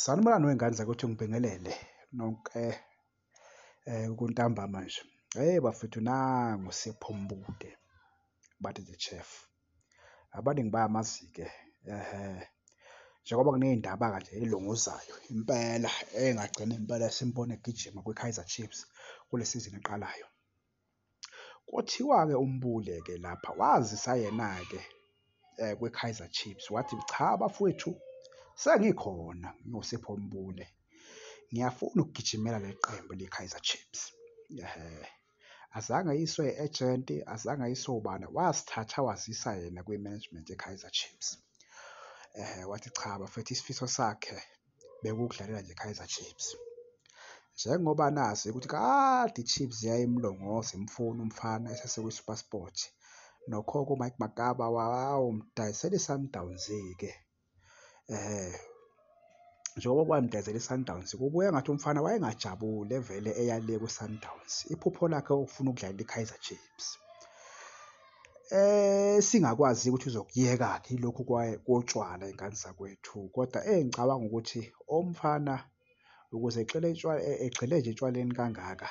Sanibonani wengane zakuthi ngibingelele nonke eh kuntambama nje. Hey bafethu nangu siphumbuke bathi the chef. Abaningi bayamazike ehe njengoba kuneyindaba kanje elunguzayo impela engagcina impela simbone egijima kwiKaizer Chiefs kule sizini eqalayo. Kuthiwa-ke uMbule-ke lapha wazisa yena-ke kwiKaizer Chiefs, wathi cha bafwethu sengikhona ngiwuSipho Mbule, ngiyafuna ukugijimela leli qembu leKaizer Chiefs. Azange ayiswe ejenti, azange ayiswe ubani, wasithatha wazisa yena kwi-management yeKaizer Chiefs. Wathi cha bafwethu isifiso sakhe. bekuwukudlalela nje Kaizer Chiefs. Njengoba nazi ukuthi kade iChiefs yayimlongoza imfuna umfana esesekwiSuperSport. Nokho-ke uMike Makaba wawumdayisela iSundowns-ke. Eh, njengoba kwamdayisela iSundowns, kubuye ngathi umfana wayengajabule vele eyale kwiSundowns. Iphupho lakhe ukufuna ukudlalela iKaizer Chiefs. esingakwazi ukuthi uzokuyeka-ke ilokhu kotshwala ingane zakwethu kodwa engicabanga ukuthi omfana ukuze egxile egxile nje etshwaleni kangaka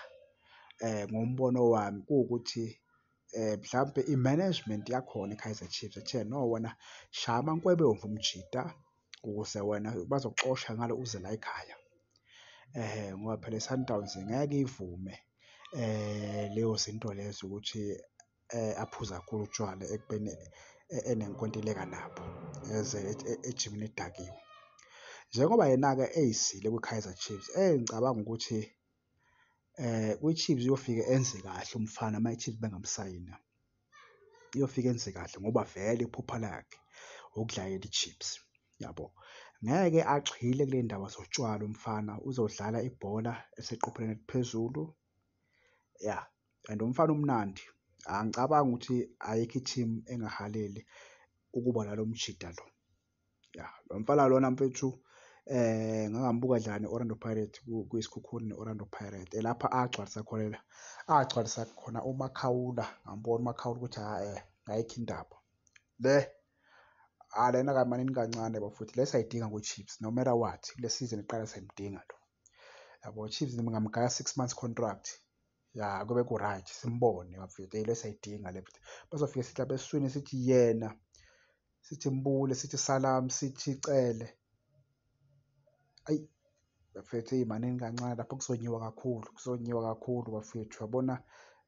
um ngombono wami kuwukuthi um mhlampe i-management yakhona i-Kaizer Chiefs ethe no wena shaya amankwebomvu mjita. ukuze wena bazokuxosha ngalo uze la ekhaya eh ngoba phela iSundowns ngeke ivume eh leyo zinto lezo ukuthi eh aphuza kakhulu utshwala ekubeni eh, enenkontileka nabo eze e-, ejimini edakiwe njengoba yena-ke eyisile kwi-kaizer chiefs engicabanga ukuthi eh kwiChiefs uyofika enze kahle umfana uma iChiefs bengamsayina uyofika enze kahle ngoba vele iphupha lakhe ukudlalela iChiefs yabo ngeke agxile kule ndaba zotshwala umfana uzodlala ibhola eseqophelweni eliphezulu ya and umfana umnandi angicabangi ukuthi ayikho i-team engahaleli ukuba nalo mjida lo. ya lo mfana lona mfethu eh ngangambuka dlala ne-orlando pirate kuyisikhukhuni ne-orlando pirate elapha agcwalisa khona la agcwalisa khona umakhawula ngambona umakhawula ukuthi ha um eh, ayikho indaba le alena kamanini kancane bafuthi le sayidinga kwi-chips no matter what kule season iqala sayimdinga lo yabo chips ngingamgaya six months contract ya kube ku-right simbone bafethu yilo esayidinga le futhi bazofike sithi lapha esiswini sithi yena sithi mbule sithi salam sithi cele ayi bafethu eyi maningi kancane lapho kuzonyiwa kakhulu kuzonyiwa kakhulu bafethu yabona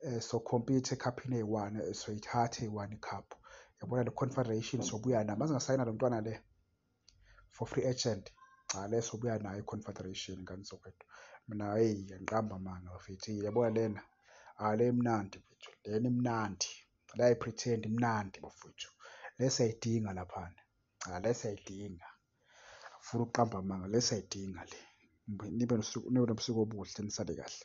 um eh, sokhompyutha ekhaphini eyi-one eh, soyithatha eyi-one ikhaphu yabona le confederation sobuya nayo mazingasayina lo mntwana le for free agent cha leso buya nayo iconfederation ngane sokwethu mina hey ngiqamba amanga bafethu yabona lena ah le imnandi mfethu lena imnandi la ipretend imnandi bafethu lesa idinga laphana cha lesa idinga funa ukuqamba amanga lesa idinga le nibe nosuku nibe nobusuku obuhle nisale kahle